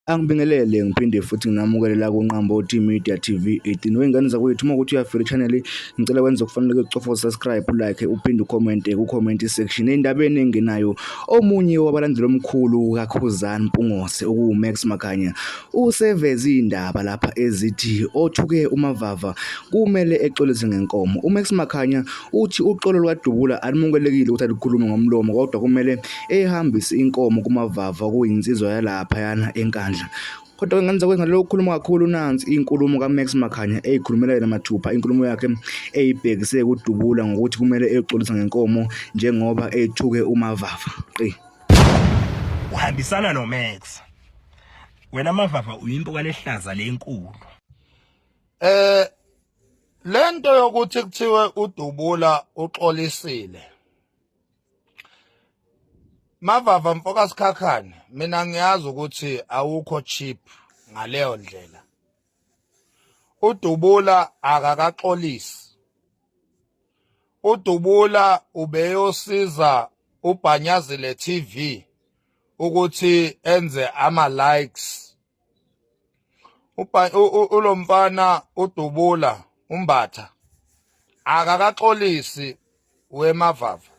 Angibingelele ngiphinde futhi nginamukele la kuNqambothi Media TV 18 wey'ngane zakwethu uma ukuthi uyafela i-channel ngicela wenze okufanele ucofa usubscribe ulike uphinde ucommente ku-comment section endabeni engenayo omunye wabalandeli omkhulu kaKhuzani Mpungose okuwuMax Makhanya Useveze izindaba lapha ezithi othuke uMavava kumele exolise ngenkomo. UMax Makhanya uthi uxolo lukadubula alumunkelekile ukuthi alukhulume ngomlomo kodwa kumele ehambise inkomo kuMavava okuyinsizwa yalaphayana eNkandla. Kodwa ngenza kwenza lokho ukhuluma kakhulu nansi inkulumo kaMax Makhanya eyikhulumela yena mathupha inkulumo yakhe eyibhekise kudubula ngokuthi kumele exolise ngenkomo njengoba ethuke uMavava. Qi. Uhambisana noMax. wena mavava uyimpo kwalehlaza lenkulu eh lento yokuthi kuthiwe udubula uxolisile mavava mfoka sikhakhane mina ngiyazi ukuthi awukho cheap ngaleyo ndlela udubula akakaxolisi udubula ubeyosiza ubhanyazile TV ukuthi enze ama likes ulomfana udubula umbatha akakaxolisi wemavava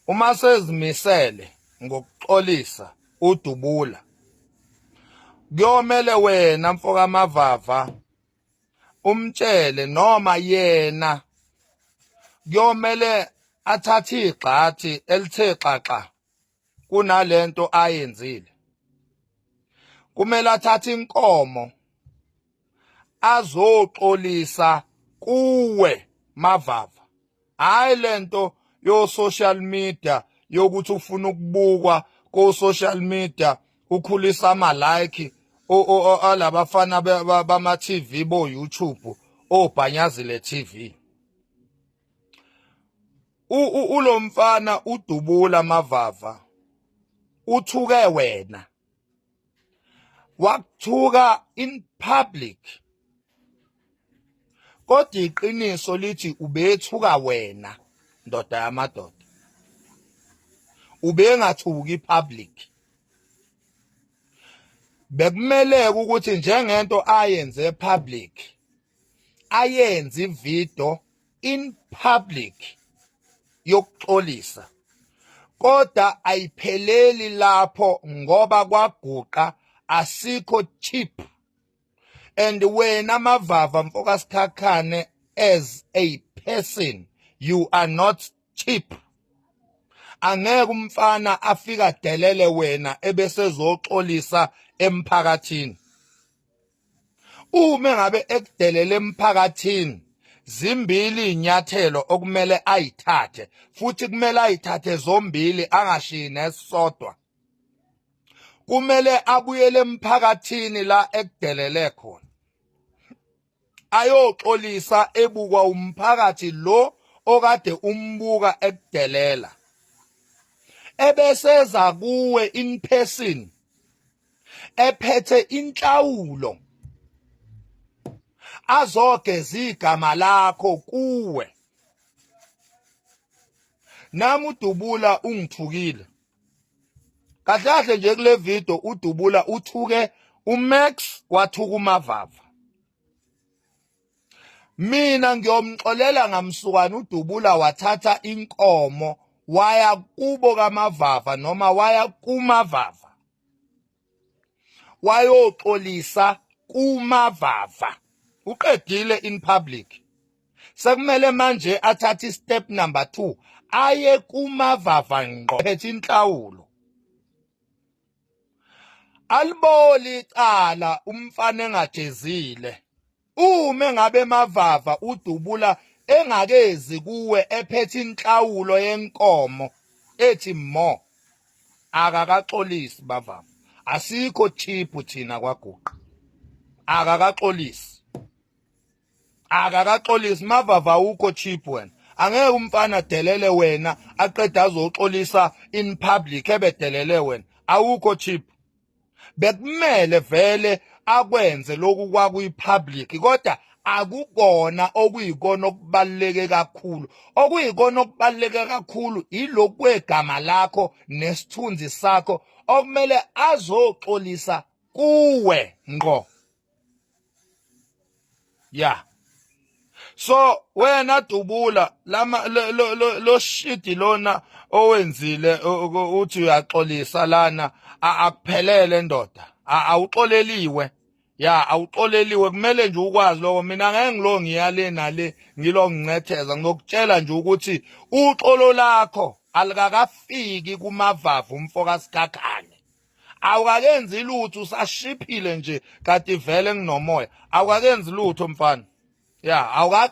uma sezimisele ngokuxolisa udubula kuyomele wena mfoka mavava umtshele noma yena kuyomele athathe igxathi elithe xaxa kunalento ayenzile kumele athathe inkomo azoxolisa kuwe mavava hayi lento yo social media yokuthi ufuna ukubukwa ko social media ukhulisa ama like alabafana bama TV bo YouTube obhanyazile TV ulomfana udubula mavava uthuke wena wakuthuka in public kodwa iqiniso lithi ubethuka wena ndoda yamadoda ubengathuki public bekumeleke ukuthi njengento ayenze public ayenze ivideo in public yokuxolisa kodwa ayipheleli lapho ngoba kwaguqa asikho cheap and wena mavava mfokasikhakhane as a person you are not cheap angeke umfana afika delele wena ebesezoxolisa emphakathini Uma ngabe ekudelele emphakathini zimbili inyathelo okumele ayithathe futhi kumele ayithathe zombili angashiyi nesisodwa. Kumele abuyele emphakathini la ekudelele khona. Ayoxolisa ebukwa umphakathi lo okade umbuka ekudelela. Ebeseza kuwe in person ephethe inhlawulo azogeza igama lakho kuwe nami udubula ungithukile kahle kahle nje kule video udubula uthuke uMax wathuka uMavava mina ngiyomxolela ngamsukwana udubula wathatha inkomo waya kubo kamavava noma waya kumavava wayoxolisa kumavava uqedile in public sekumele manje athathe istep number 2 aye kumavava ngqo phethe inhlawulo aliboli icala umfana engajezile uma ngabe mavava udubula engakezi kuwe ephethe inhlawulo yenkomo ethi mo akakaxolisi bavama asikho cheap thina kwaguqa akakaxolisi akakaxolisi mavava ukho cheap wena angeke umfana delele wena aqeda azoxolisa in public ebedelele wena awukho cheap bekumele vele akwenze lokhu kwakuyipublic kodwa akukona okuyikona okubaluleke kakhulu okuyikona okubaluleke kakhulu ilokhu kwegama lakho nesithunzi sakho okumele azoxolisa kuwe ngqo ya so wena dubula lama lo, lo, lo, lo shidi lona owenzile uthi uyaxolisa lana akuphelele ndoda awuxoleliwe ya awuxoleliwe kumele nje ukwazi lokho mina ngeke ngilo ngiyale nale ngilo ngincetheza ngizokutshela nje ukuthi uxolo lakho alikakafiki kumavavu umfoka sikhakhane awukakenzi lutho usashiphile nje kati vele nginomoya awukakenzi lutho mfana ya awuka